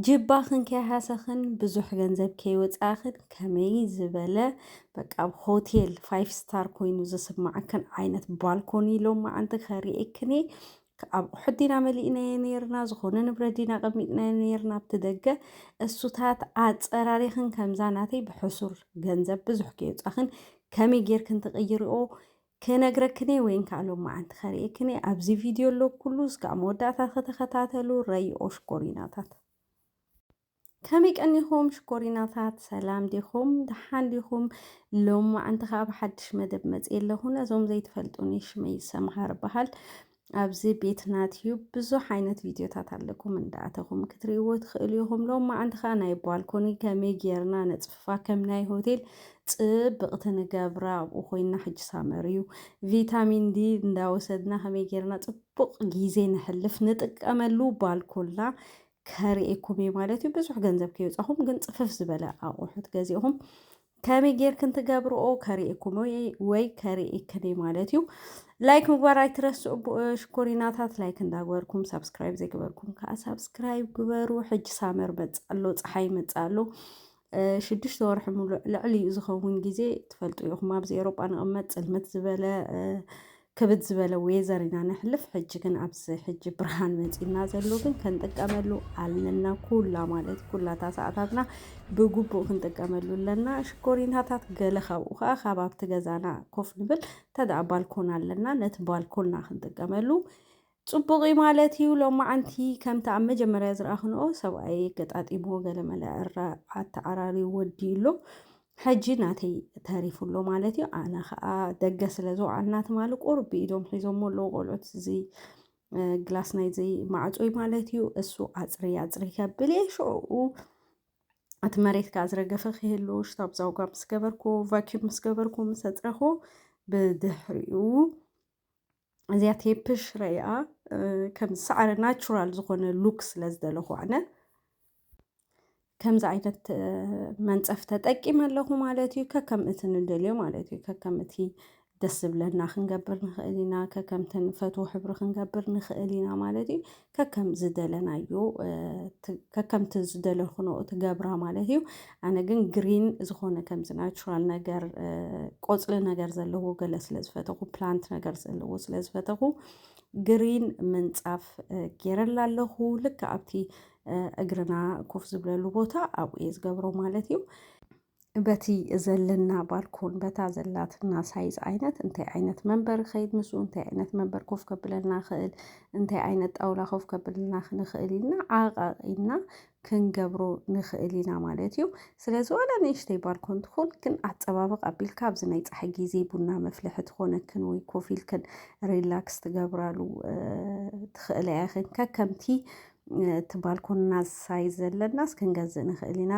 ጅባኽን ከይሃሰኽን ብዙሕ ገንዘብ ከይወፃእኽን ከመይ ዝበለ በቃ ኣብ ሆቴል ፋይቭ ስታር ኮይኑ ዝስማዕክን ዓይነት ባልኮኒ ሎማ ኣንቲ ከርእየክን እየ ኣብ ኣቑሑት ዲና መሊእናዮ ነርና ዝኾነ ንብረት ዲና ቀሚጥናዮ ነርና ኣብቲ ደገ እሱታት ኣፀራሪኽን ከምዛ ናተይ ብሕሱር ገንዘብ ብዙሕ ከይወፃኽን ከመይ ጌርክን ትቕይርኦ ክነግረክኔ ወይን ከኣ ሎማዓንቲ ከርእየክኔ ኣብዚ ቪድዮ ኣሎ ኩሉ እስካብ መወዳእታ ከተከታተሉ ረይኦ ሽኮሪናታት ከመይ ቀኒኹም ሽኮሪናታት ሰላም ዲኹም ደሓን ዲኹም ሎማዓንቲ ከኣ ብሓድሽ መደብ መጽየ ኣለኹ ነዞም ዘይትፈልጡኒ ሽመይ ሰምሃር በሃል ኣብዚ ቤትና ትዩብ ብዙሕ ዓይነት ቪድዮታት ኣለኩም እንዳኣተኹም ክትርእይዎ ትኽእሉ ኢኹም። ሎማዓንቲ ከዓ ናይ ባልኮኒ ከመይ ጌርና ነፅፍፋ ከም ናይ ሆቴል ፅብቕቲ ንገብራ ኣብኡ ኮይና ሕጂ ሳመር እዩ ቪታሚን ዲ እንዳወሰድና ከመይ ጌርና ፅቡቕ ጊዜ ነሕልፍ ንጥቀመሉ ባልኮላ ከርእየኩም እዩ ማለት እዩ። ብዙሕ ገንዘብ ከይወፃኹም ግን ፅፍፍ ዝበለ ኣቑሑት ገዚእኹም ከመይ ጌርክን ትገብርኦ ከርእየኩም ወይ ከርእየክን ማለት እዩ ላይክ ምግባር ኣይትረስዑ ሽኮሪናታት ላይክ እንዳግበርኩም ሳብስክራይብ ዘይገበርኩም ከዓ ሳብስክራይብ ግበሩ ሕጂ ሳመር መፅኣሎ ፀሓይ መፅኣሎ ሽዱሽተ ወርሒ ሙሉእ ልዕሊ ዝኸውን ግዜ ትፈልጡ ኢኹም ኣብዚ ኤሮጳ ንቕመጥ ፅልምት ዝበለ ክብድ ዝበለ ዌዘር ኢና ነሕልፍ ሕጂ ግን ኣብዚ ሕጂ ብርሃን መጺና ዘሎ ግን ክንጥቀመሉ ኣለና ኩላ ማለት ኩላታ ሰዓታትና ብግቡእ ክንጥቀመሉ ኣለና ሽኮሪናታት ገለ ካብኡ ከዓ ካብ ኣብቲ ገዛና ኮፍ ንብል እንተደኣ ባልኮን ኣለና ነቲ ባልኮንና ክንጥቀመሉ ጽቡቕ'ዩ ማለት'ዩ፣ ሎማዓንቲ ከምቲ ኣብ መጀመርያ ዝረኣኽንኦ ሰብኣየይ ኣገጣጢምዎ ገለመለ ኣተዓራርዩ ወዲኡ'ሎ፣ ሕጂ ናተይ ተሪፉ'ሎ ማለት'ዩ፣ ኣነ ከኣ ደገ ስለ ዝወዓልና ትማሊ ቁሩብ ብኢዶም ሒዞሞ ኣለዉ ቆልዑት እዚ ግላስ ናይዚ ማዕጾ'ዩ ማለት'ዩ፣ እሱ ኣጽርይ ኣጽርይ ከብል'የ ሽዑኡ እቲ መሬት ከኣ ዝረገፈ ክህሉ ሽታብ ዛውጋ ምስ ገበርኩ ቫኪዩም ምስ ገበርኩ ምስ ኣጽረኹ ብድሕሪኡ እዚኣ ቴፕሽ ረኣ ከም ሳዕረ ናቹራል ዝኾነ ሉክ ስለ ዝደለኹ ኣነ ከምዚ ዓይነት መንፀፍ ተጠቂመ ኣለኹ ማለት እዩ ከከም እቲ ንደልዮ ማለት እዩ ከከም እቲ ደስ ዝብለና ክንገብር ንኽእል ኢና ከከምቲ ንፈትዎ ሕብሪ ክንገብር ንኽእል ኢና ማለት እዩ ከከም ዝደለናዮ ከከምቲ ዝደለኹኖኡ ትገብራ ማለት እዩ ኣነ ግን ግሪን ዝኾነ ከምዚ ናቹራል ነገር ቆፅሊ ነገር ዘለዎ ገለ ስለ ዝፈተኹ ፕላንት ነገር ዘለዎ ስለ ዝፈተኹ ግሪን ምንፃፍ ጌረላ ኣለኹ ልክ ኣብቲ እግርና ኮፍ ዝብለሉ ቦታ ኣብኡ እየ ዝገብሮ ማለት እዩ በቲ ዘለና ባልኮን በታ ዘላትና ሳይዝ ዓይነት እንታይ ዓይነት መንበር ይኸይድ ምስኡ እንታይ ዓይነት መንበር ኮፍ ከብለልና ይኽእል እንታይ ዓይነት ጣውላ ኮፍ ከብለልና ክንኽእል ኢልና ዓቓቒድና ክንገብሮ ንኽእል ኢና ማለት እዩ። ስለዚ ዋላ ንእሽተይ ባልኮን ትኹን ግን ኣፀባብቕ ኣቢልካ ኣብዚ ናይ ፀሓይ ግዜ ቡና መፍልሒ ትኾነክን ወይ ኮፍ ኢልክን ሪላክስ ትገብራሉ ትኽእላ ኢኽን ከከምቲ እቲ ባልኮንና ዝሳይ ዘለናስ ክንገዝእ ንኽእል ኢና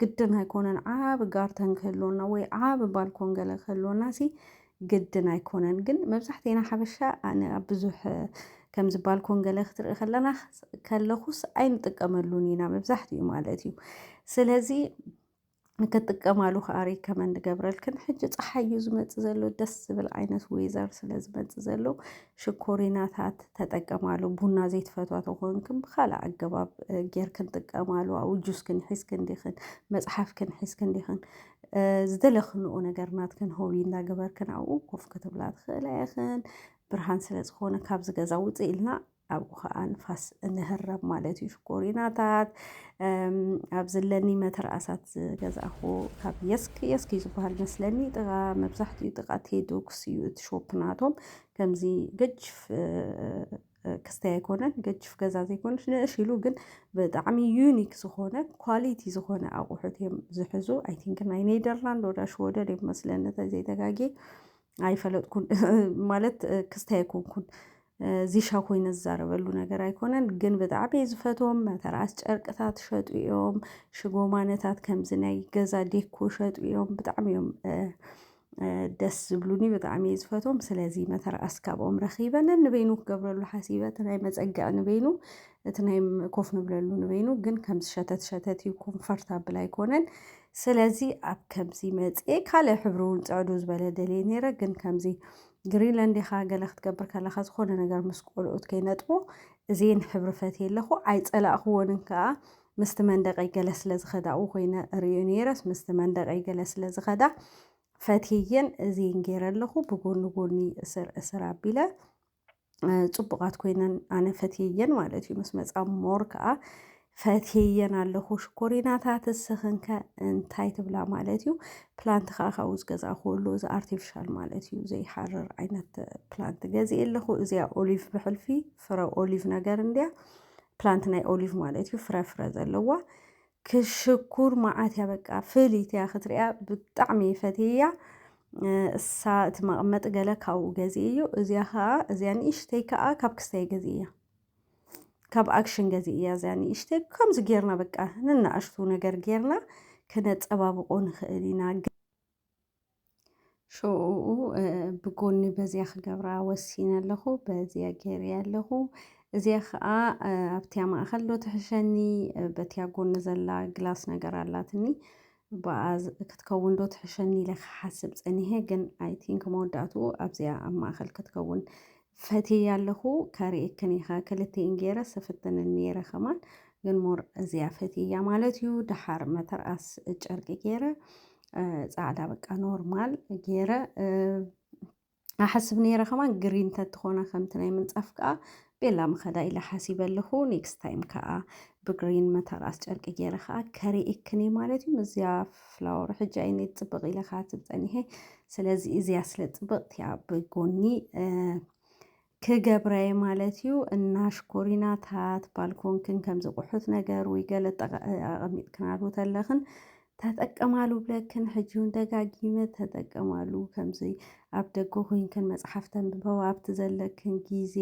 ግድን ኣይኮነን ዓብ ጋርተን ክህልወና ወይ ዓብ ባልኮን ገለ ክህልወና ሲ ግድን ኣይኮነን ግን መብዛሕትኤና ሓበሻ ኣነ ኣብ ብዙሕ ከምዚ ባልኮን ገለ ክትርኢ ከለና ከለኹስ ኣይንጥቀመሉን ኢና መብዛሕትኡ ማለት እዩ ስለዚ ክትጥቀማሉ ከዓ ሪከመንድ ንገብረልክን ሕጂ ፀሓይ እዩ ዝመፅእ ዘሎ ደስ ዝብል ዓይነት ዌዘር ስለ ዝመፅእ ዘሎ ሽኮሪናታት ተጠቀማሉ ቡና ዘይትፈትዋ ተኾንክን ብካልእ ኣገባብ ጌርክን ጥቀማሉ ኣብኡ ጁስክን ሒዝክን ዲኽን መፅሓፍክን ሒዝክን ዲኽን ዝደለክንኡ ነገር ናትክን ሆቢ እናገበርክን ኣብኡ ኮፍ ክትብላ ትኽእላ ኢኽን ብርሃን ስለ ዝኾነ ካብዚ ገዛ ውፅእ ኢልና ኣብኡ ከዓ ንፋስ እንህረብ ማለት እዩ ሽኮሪናታት ኣብ ዘለኒ መተርኣሳት ዝገዛእኹ ካብ የስክ የስክ እዩ ዝበሃል መስለኒ ጥቃ መብዛሕትኡ ጥቃ ቴዶክስ እዩ እቲ ሾፕ ናቶም ከምዚ ገጅፍ ክስተይ ኣይኮነን ገጅፍ ገዛ ዘይኮነች ንእሽ ኢሉ ግን ብጣዕሚ ዩኒክ ዝኾነ ኳሊቲ ዝኾነ ኣቑሑት እዮም ዝሕዙ ኣይ ቲንክ ናይ ኔደርላንድ ወዳ ሽወደን እዮም መስለኒ ተዘይተጋጌ ኣይፈለጥኩን ማለት ክስታይ ኣይኮንኩን ዚሻ ኮይነ ዝዛረበሉ ነገር ኣይኮነን ግን ብጣዕሚ እየ ዝፈትዎም መተርኣስ ጨርቅታት ሸጡ እዮም ሽጎማነታት ከምዚ ናይ ገዛ ዴኮ ሸጡ እዮም ብጣዕሚ እዮም ደስ ዝብሉኒ ብጣዕሚ እየ ዝፈትዎም ስለዚ መተርኣስ ካብኦም ረኺበ ነንበይኑ ክገብረሉ ሓሲበ እቲ ናይ መፀግዕ ንበይኑ እቲ ናይ ኮፍ ንብለሉ ንበይኑ ግን ከምዚ ሸተት ሸተት እዩ ኮምፈርት ኣብል ኣይኮነን ስለዚ ኣብ ከምዚ መፅኤ ካልእ ሕብሪ እውን ፅዕዱ ዝበለ ደልየ ነይረ ግን ከምዚ ግሪንላንድ ኢኻ ገለ ክትገብር ከለኻ ዝኾነ ነገር ምስ ቆልኡት ከይነጥቦ እዜን ሕብሪ ፈትየ ኣለኹ ኣይጸላእኽዎንን ከኣ ምስቲ መንደቀይ ገለ ስለ ዝኸዳኡ ኮይነ ርእዩ ነይረስ ምስቲ መንደቀይ ገለ ስለ ዝኸዳ ፈትየየን እዜን ገይረ ኣለኹ ብጎኒ ጎኒ እስር እስር ኣቢለ ፅቡቓት ኮይነን ኣነ ፈትየየን ማለት እዩ ምስ መፃ ሞር ከዓ ፈትየየን ኣለኹ ሽኮሪናታት እስኽንከ እንታይ ትብላ ማለት እዩ ፕላንት ከዓ ካብኡ ዝገዛእኹ ኣሎ እዚ ኣርቲፊሻል ማለት እዩ ዘይሓርር ዓይነት ፕላንት ገዚእ ኣለኹ እዚኣ ኦሊቭ ብሕልፊ ፍረ ኦሊቭ ነገር እንድያ ፕላንት ናይ ኦሊቭ ማለት እዩ ፍረ ፍረ ዘለዋ ክሽ ሽኩር ማዓት እያ በቃ ፍልይቲ እያ ክትርእያ ብጣዕሚ እየ ፈትየያ እሳ እቲ መቐመጢ ገለ ካብኡ ገዚእ እዩ እዚያ ከዓ እዚያ ንእሽተይ ከዓ ካብ ክስታይ ገዚእ እያ ካብ ኣክሽን ገዚእ እያ እዚያ ንእሽተይ ከምዚ ጌርና በቃ ንናእሽቱ ነገር ጌርና ክነፀባብቆ ንኽእል ኢና ሸኡኡ ብጎኒ በዚያ ክገብራ ወሲነ ኣለኹ በዚያ ገይረያ ኣለኹ እዚኣ ከዓ ኣብቲያ ማእኸል ዶ ትሕሸኒ በቲያ ጎኒ ዘላ ግላስ ነገር ኣላትኒ ብኣ ክትከውን ዶ ትሕሸኒ ኢለ ክሓስብ ፀኒሐ ግን ኣይ ቲንክ መወዳእትኡ ኣብዚኣ ኣብ ማእኸል ክትከውን ፈትየያ ኣለኩ ከርእየክን ኢካ ክልቲኤን ገይረ ስፍትንን ነይረ ከማን ግን ሞር እዚኣ ፈትየያ ማለት እዩ ደሓር መተርኣስ ጨርቂ ገይረ ጻዕዳ በቃ ኖርማል ገይረ ኣሓስብ ነይረ ከማን ግሪን ተትኾና ከምቲ ናይ ምንጻፍ ከዓ ቤላ ምኸዳ ኢለ ሓሲበ ኣለኹ ኔክስት ታይም ከዓ ብግሪን መተርኣስ ጨርቂ ገይረ ከዓ ከሪኤክን እየ ማለት እዩ እዚኣ ፍላወር ሕጂ ኣይነ ፅብቅ ኢለ ከዓ ትብ ፀኒሐ ስለዚ እዚኣ ስለ ፅብቅቲ እያ ብጎኒ ክገብረ እየ ማለት እዩ እና ሽኮሪናታት ባልኮንክን ከምዚ ቁሑት ነገር ወይ ገለ ኣቐሚጥክናሉ ተለኽን ተጠቀማሉ ብለክን ሕጂ ውን ደጋጊመ ተጠቀማሉ ከምዚ ኣብ ደገ ኮይንክን መጽሓፍ ተንብበው ኣብቲ ዘለክን ግዜ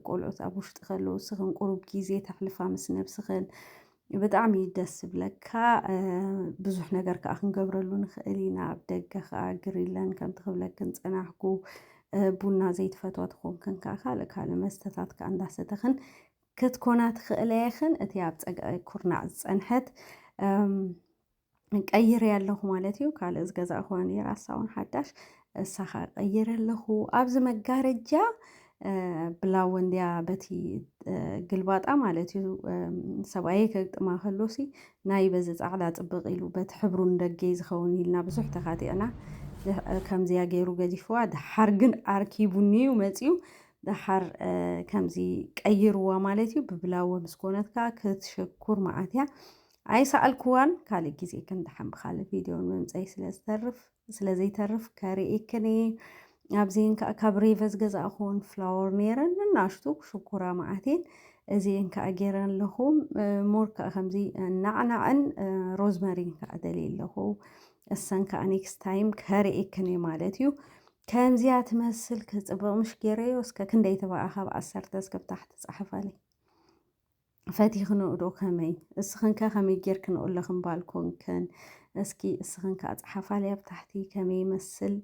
ቆልዑት ኣብ ውሽጢ ከለዉ እስኽን ቁሩብ ግዜ ተሕልፋ ምስ ነብስኽን ብጣዕሚ እዩ ደስ ዝብለካ ብዙሕ ነገር ከዓ ክንገብረሉ ንኽእል ኢና ኣብ ደገ ከዓ ግሪለን ከምቲ ክብለክን ፀናሕኩ ቡና ዘይትፈትዋ ትኾንክን ከዓ ካልእ ካልእ መስተታት ከዓ እንዳሰተኽን ክትኮና ትኽእላ ኢኽን እቲ ኣብ ፀግዒ ኩርናዕ ዝፀንሐት ቀይሬ ኣለኹ ማለት እዩ ካልእ ዝገዛእኹዋ ነይራ እሳ እውን ሓዳሽ እሳኻ ቀይረ ኣለኹ ኣብዚ መጋረጃ ብላወ እንዲያ በቲ ግልባጣ ማለት እዩ ሰብኣየ ከግጥማ ከሎሲ ናይ በዚ ፃዕዳ ፅብቕ ኢሉ በቲ ሕብሩ ንደገይ ዝኸውን ኢልና ብዙሕ ተኻቲዕና ከምዚያ ገይሩ ገዲፍዋ ድሓር ግን ኣርኪቡኒ እዩ መፅኡ ደሓር ከምዚ ቀይርዋ ማለት እዩ ብብላወ ምስ ኮነት ከዓ ክትሸኩር መዓት እያ ኣይሰኣልክዋን ካልእ ግዜ ክንድሓን ብካልእ ቪድዮ ምምፀይ ስለዝተርፍ ስለዘይተርፍ ከርእክን እየ ኣብዚን ከዓ ካብ ሬቨ ዝገዛእኹን ፍላወር ነይረን እናሽቱ ሽኩራ መዓቴን እዚን ከዓ ገይረ ኣለኹ ሞር ከዓ ከምዚ ናዕናዕን ሮዝመሪን ከዓ ደልየ ኣለኹ እሰን ከዓ ኔክስት ታይም ከርእክን እየ ማለት እዩ ከምዚኣ ትመስል ክጽብቕ ምሽ ገይረዮ እስከ ክንደይ ትበኣ ካብ ዓሰርተ እስከብ ታሕቲ ጻሕፋለይ ፈቲኽንኡዶ ከመይ እስኽንከ ከመይ ጌርክንኡ ኣለኽን ባልኮንክን እስኪ እስኽን ከዓ ጸሓፋለይ ኣብ ታሕቲ ከመይ ይመስል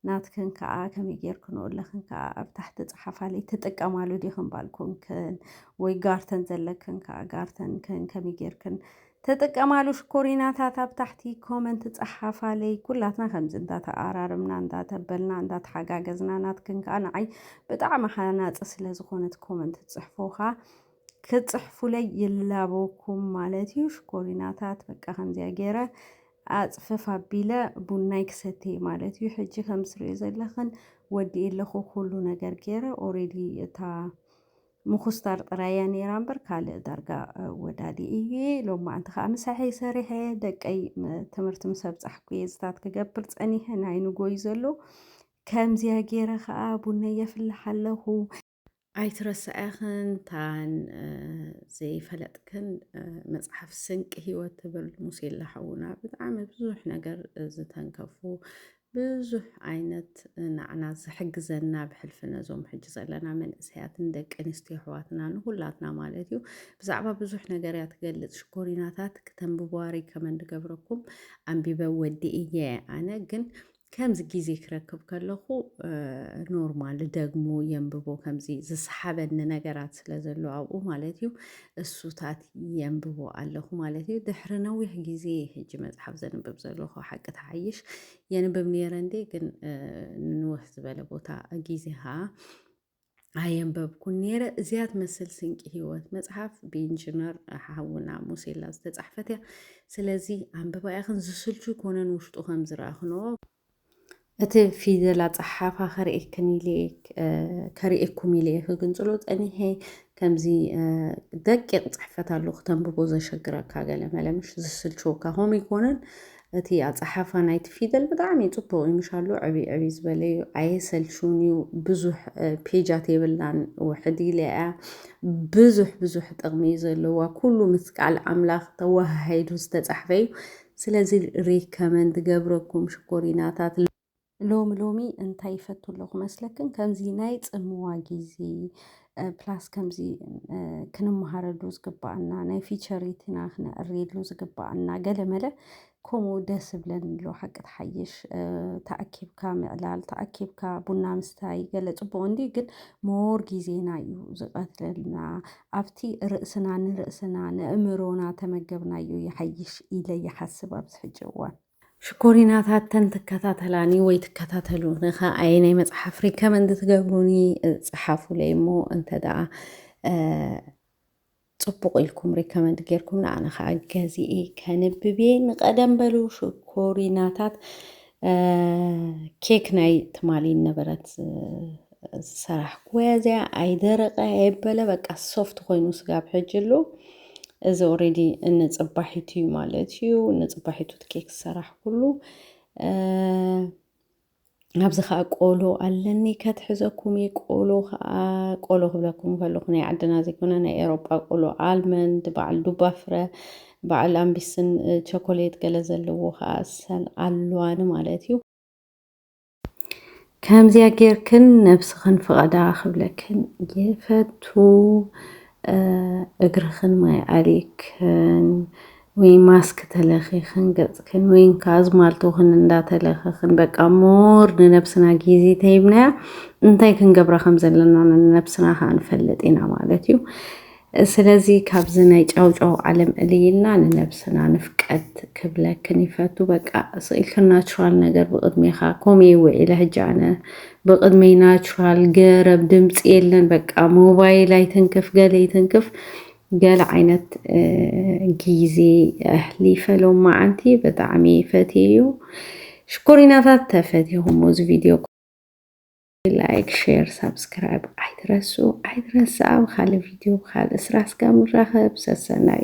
ናትክን ከዓ ከመይ ጌርክንኡ ኣለኽን ከዓ ኣብ ታሕቲ ጸሓፋለይ ትጥቀማሉ ዲኽን ባልኮንክን ወይ ጋርተን ዘለክን ከዓ ጋርተንክን ከመይ ጌርክን ትጥቀማሉ ሽኮሪናታት ኣብ ታሕቲ ኮመንት ጸሓፋለይ ኩላትና ከምዚ እንዳተኣራረምና እንዳተበልና እንዳተሓጋገዝና ናትክን ከኣ ንዓይ ብጣዕሚ ሃናጺ ስለ ዝኾነት ኮመንት ትጽሕፉኻ ክትጽሕፉለይ ይላበኩም ማለት እዩ ሽኮሪናታት በቃ ከምዚያ ገይረ ኣጽፍፍ ኣቢለ ቡናይ ክሰትየ ማለት እዩ ሕጂ ከም ትሪኦ ዘለኽን ወዲኤ ኣለኹ ኩሉ ነገር ገይረ ኦሬዲ እታ ምኹስታር ጥራይ እያ ኔራ እምበር ካልእ ዳርጋ ወዳዲ እየ ሎማዓንቲ ከኣ ምሳሐይ ሰሪሐ ደቀይ ትምህርቲ ምስ ኣብጻሕኩ እየ ዝታት ክገብር ጸኒሐ ናይ ንጎ እዩ ዘሎ ከምዚኣ ጌረ ከኣ ቡነይ የፍልሕ ኣለኹ ኣይትረስዐኽን ታን ዘይፈለጥክን መጽሓፍ ስንቂ ህይወት ትብል ሙሴላ ሓውና ብጣዕሚ ብዙሕ ነገር ዝተንከፉ ብዙሕ ዓይነት ናዕና ዝሕግዘና ብሕልፊ ነዞም ሕጂ ዘለና መንእሰያትን ደቂ ኣንስትዮ ኣሕዋትና ንኹላትና ማለት እዩ ብዛዕባ ብዙሕ ነገር እያ ትገልጽ ሽኮሪናታት ክተንብብዋ ሪከመንድ ገብረኩም ኣንቢበ ወዲ እየ ኣነ ግን ከምዚ ግዜ ክረክብ ከለኹ ኖርማል ደግሞ የንብቦ ከምዚ ዝሰሓበኒ ነገራት ስለ ዘሎ ኣብኡ ማለት እዩ እሱታት የንብቦ ኣለኹ ማለት እዩ ድሕሪ ነዊሕ ግዜ ሕጂ መፅሓፍ ዘንብብ ዘለኹ ሓቂ ተሓይሽ የንብብ ነይረ እንዴ ግን ንንውሕ ዝበለ ቦታ ግዜ ከዓ ኣየንበብኩን ነይረ እዚያ ትመስል ስንቂ ህይወት መፅሓፍ ብኢንጂነር ሓውና ሙሴላ ዝተፃሕፈት እያ ስለዚ ኣንብባ ኢኽን ዝስልቹ ኮነን ውሽጡ ከም ዝረኣኽንዎ እቲ ፊደል ኣጸሓሕፋ ከርእየክን ኢለ ከርእየኩም ኢለ ክግንጽሎ ጸኒሐ ከምዚ ደቂቕ ጽሕፈት ኣሎ ክተንብቦ ዘሸግረካ ገለ መለምሽ ዝስልችወካ ከምኡ ይኮነን እቲ ኣፀሓፋ ናይቲ ፊደል ብጣዕሚ ፅቡቅ እዩ ምሻሉ ዕብ ዕብ ዝበለ እዩ ኣየሰልቹን እዩ ብዙሕ ፔጃት የብላን ውሕድ ኢለ እያ ብዙሕ ብዙሕ ጥቕሚ እዩ ዘለዋ ኩሉ ምስ ቃል ኣምላኽ ተወሃሂዱ ዝተፃሕፈ እዩ ስለዚ ሪከመንድ ዝገብረኩም ሽኮሪናታት ሎሚ ሎሚ እንታይ ይፈቱ ኣለኹ መስለክን ከምዚ ናይ ጽምዋ ግዜ ፕላስ ከምዚ ክንመሃረሉ ዝግባኣና ናይ ፊቸሪትና ክነዕርየሉ ዝግባኣና ገለ መለ ከምኡ ደስ ብለን ኣሎ ሓቂ ትሓይሽ ተኣኪብካ ምዕላል ተኣኪብካ ቡና ምስታይ ገለ ፅቡቅ እንዲ ግን ሞር ግዜና እዩ ዝቀትለልና ኣብቲ ርእስና ንርእስና ነእምሮና ተመገብናዮ ይሓይሽ ኢለ ይሓስብ ኣብዚ ሕጂ እዋን። ሽኮሪናታት ተን ትከታተላኒ ወይ ትከታተሉኒ ከ ኣየናይ መጽሓፍ ሪከመንድ ትገብሩኒ ጽሓፉለይ እሞ እንተ ደኣ ጽቡቕ ኢልኩም ሪከመንድ ጌርኩም ንኣነ ከኣ ገዚኤ ከንብቤ ንቐደም በሉ ሽኮሪናታት ኬክ ናይ ትማሊ ነበረት ዝሰራሕኩወያ እዚኣ ኣይደረቐ ኣይበለ በቃ ሶፍት ኮይኑ ስጋብ ሕጂ ኣሎ እዚ ኦሬዲ ንፅባሒቱ እዩ ማለት እዩ ንፅባሒቱ ኬክ ዝሰራሕኩሉ ኣብዚ ከዓ ቆሎ ኣለኒ ከትሕዘኩም እየ ቆሎ ከዓ ቆሎ ክብለኩም ከለኩ ናይ ዓድና ዘይኮነ ናይ ኤሮጳ ቆሎ ኣልመንድ በዓል ዱባ ፍረ በዓል ኣምቢስን ቸኮሌት ገለ ዘለዎ ከኣ ሰን ኣሉዋ ንማለት እዩ። ከምዚኣ ጌርክን ነብስኽን ፍቐዳ ክብለክን ይፈቱ እግርኽን ማይ ኣሊክን ወይ ማስክ ተለኺኽን ገጽክን ወይን ከኣ ኣዝማልቶኽን እንዳተለኸኽን በቃ ሞር ንነብስና ግዜ ተሂብናያ እንታይ ክንገብራ ከም ዘለና ንነብስና ከኣ ንፈልጥ ኢና ማለት እዩ። ስለዚ ካብዚ ናይ ጫውጫው ዓለም እልይ ኢልና ንነብስና ንፍቀድ ክብለክን ይፈቱ በቃ ስቅ ኢልክን ናቹራል ነገር ብቅድሜካ ኮምኡ ኢዩ ዊዒለ ሕጂ ኣነ ብቅድመይ ናቹራል ገረብ ድምጺ የለን በቃ ሞባይል ኣይትንክፍ ገለ ኣይትንክፍ ገለ ዓይነት ግዜ ኣሕሊፈ ሎማዓንቲ ብጣዕሚ ፈትየዮ ሽኮሪናታት ተፈቲኹሞ እዚ ቪድዮ ላይክ ሼር ሳብስክራይብ ኣይትረስዑ ኣይትረስኣ ብካልእ ቪድዮ ብካልእ ስራሕ ስጋብ ንራከብ ሰሰናዩ።